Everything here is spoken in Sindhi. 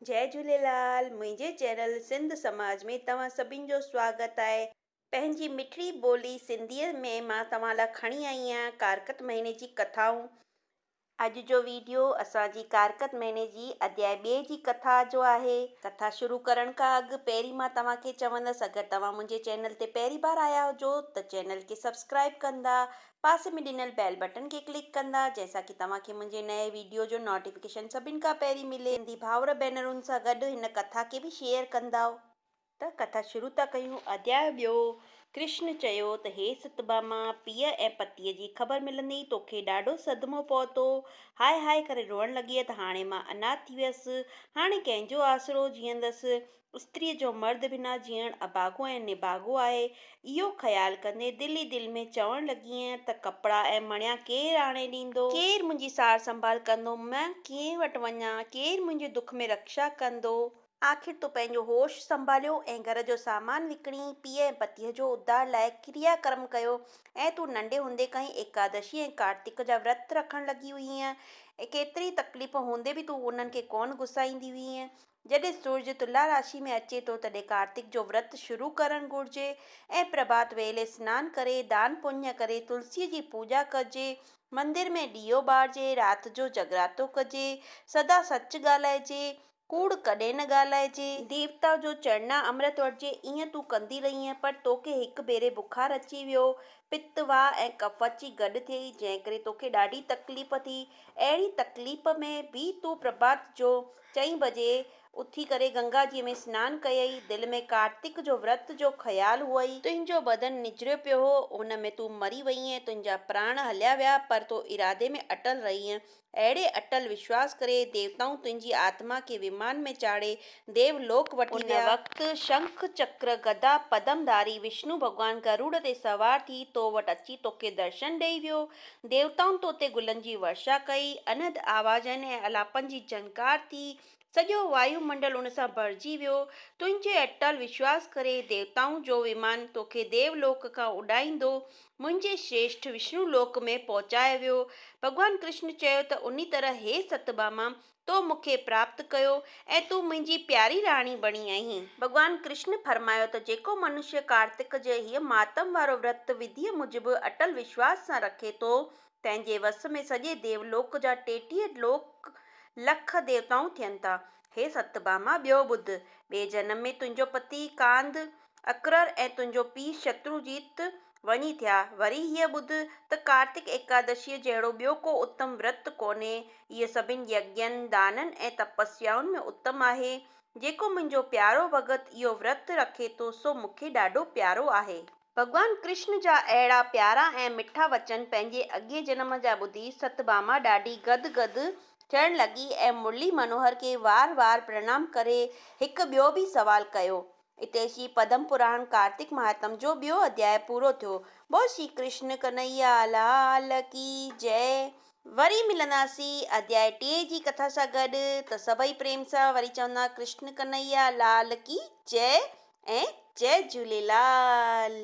جئي جهوليلال منهنجي چينل سنڌ سماج ۾ توهان سڀين جو سواگت آهي پنهنجي مٺڙي ٻولي سنڌيء ۾ مان توهان لا کڻي آئي آهيان ڪارڪت مهيني جي ڪٿائون. اڄ جو ويڊيو اسان جي ڪارڪت مهيني جي اڌيائي ٻئي جي ڪٿا جو آهي ڪٿا شروع ڪرڻ کان اڳ پهرين مان توهان کي چوندس اگر توهان منهنجي چينل تي پهرين بار آيا هجو ته چينل کي سبسڪرائب ڪندا پاسي ۾ ڏنل بيل بٽن کي ڪلڪ ڪندا جنهن سان ڪي توهان کي منهنجي نئين ويڊيو جو نوٽيفڪيشن سڀن کان پهرين ملي. سنڌي ڀائور ڀينرن سان گڏ هن ڪٿا کي به شيئر ڪندائو. ته ڪٿا شروع ٿا ڪيون. اڌياء ٻيو، ڪرشن چيو ته هي ستڀاما، پيء ۽ پتيء جي خبر ملندي ئي توکي ڏاڍو صدمو پهتو. هاء هاء ڪري روئڻ لڳيئه ته هاڻي مان اناٿ ٿي ويس. هاڻي ڪنهن جو آسرو جيئندس. استريء جو مرد بنا جيئڻ اڀاڳو ۽ نڀاڳو آهي. اهو خيال ڪندي دل ئي دل ۾ چوڻ لڳينء ته ڪپڙا ۽ مڻيا ڪير آڻي ڏيندو؟ ڪير منهنجي سار سنڀال ڪندو؟ مان ڪنهن وٽ وڃان؟ ڪير منهنجي دک ۾ رڪشا ڪندو؟ آخر تو پنهنجو هوش سنڀاليو ۽ گهر جو سامان وڪڻي پيء ۽ پتيء جو اڌار لاء ڪريا ڪرم ڪيو ۽ تون ننڍي هوندي کان ئي ايڪادشي ۽ ڪارتڪ جا ورت رکڻ لڳي هئينء. ڪيتري ئي تڪليفون هوندي به تون انهن کي ڪونه گسائيندي هئينء. جڏهن سورج تلا راشي ۾ اچي ٿو تڏهن ڪارتڪ جو ورت شروع ڪرڻ گهرجي ۽ پرڀات ويلي سنان ڪري، دان پڃ ڪري، تلسيء جي پوڄا ڪجي، مندر ۾ ڏيئو ٻارجي، رات جو جڳراتو ڪجي، سدا سچ ڳالهائجي، ڪوڙ ڪڏهن نه ڳالهائجي. ديوتا جو چرڻا امرت وٺجي، ايئن تون ڪندي رهينء پر توکي هڪ ڀيري بخار اچي ويو، پت، واء ۽ ڪف اچي گڏ ٿئي، جنهن ڪري توکي ڏاڍي تڪليف ٿي، اهڙي تڪليف ۾ به تون پرڀات جو چئين بجي اٿي ڪري گنگا جيء ۾ سنان ڪيئي، دل ۾ ڪارتڪ جو ورت جو خيال هئئي. تنهنجو بدن نجريو پيو هو، ان ۾ تون مري ويئين، تنهنجا پراڻ هليا ويا، پر تون ارادي ۾ اٽل رهيئين. اهڙي اٽل وشواس ڪري ديوتائون تنهنجي آتما کي ومان ۾ چاڙهي ديو لوڪ وٺي ويا. ان وقت شنک، چڪر، گدا، پدم ڌاري وشنو ڀڳوان گروڙ تي سوار ٿي تو وٽ اچي توکي درشن ڏيئي ويو. ديوتائن تو تي گلن جي ورشا ڪئي، انهد آوازن ۽ الاپن جي جهنڪار ٿي، سڄو وايو منڊل ان سان ڀرجي ويو. تنهنجي اٽل وشواس ڪري، ديوتائن جو ومان توکي ديو لوڪ کان اڏائيندو، منهنجي شريشٺ وشنو لوڪ ۾ پهچايو ويو. ڀڳوان ڪرشن چيو ته انهي طرح، هي ستڀاما، تو مون کي پراپت ڪيو ۽ تون منهنجي پياري راڻي بڻي آهين. ڀڳوان ڪرشن فرمايو ته جيڪو منشيه ڪارتڪ جي هيء مهاتم وارو ورت وڌيء موجب اٽل وشواس سان رکي ٿو، تنهن جي وس ۾ سڄي ديو لوڪ جا ٽيٽيهه لوڪ لک ديوتائون ٿين ٿا. هي ستڀاما ٻيو ٻڌ، ٻئي جنم ۾ تنهنجو پتي ڪانڌ اڪرر ۽ تنهنجو پيء شتروجيت وڃي ٿيا. وري هيء ٻڌ ته ڪارتڪ ايڪادشيء جهڙو ٻيو ڪو اتم ورت ڪونهي. هيء سڀني يگين، دانن ۽ تپسيائن ۾ اتم آهي. جيڪو منهنجو پيارو ڀڳت اهو ورت رکي ٿو سو مون کي ڏاڍو پيارو آهي. ڀڳوان ڪرشن جا اهڙا پيارا ۽ مٺا وچن پنهنجي اڳئين جنم جا ٻڌي ستڀاما ڏاڍي گد گد ٿيڻ لڳي ۽ مرلي منوهر کي وار وار پرڻام ڪري هڪ ٻيو به سوال ڪيو. اتي شري پدم پراڻ ڪارتڪ مهاتم جو ٻيو اڌياء پورو ٿيو. بول شري ڪرشن ڪنهيا لال ڪي جئه. وري ملنداسين اڌياء ٽئين جي ڪٿا سان گڏ ته سڀئي پريم سان وري چوندا ڪرشن ڪنهيا لال ڪي جئه ۽ جئه جهوليلال.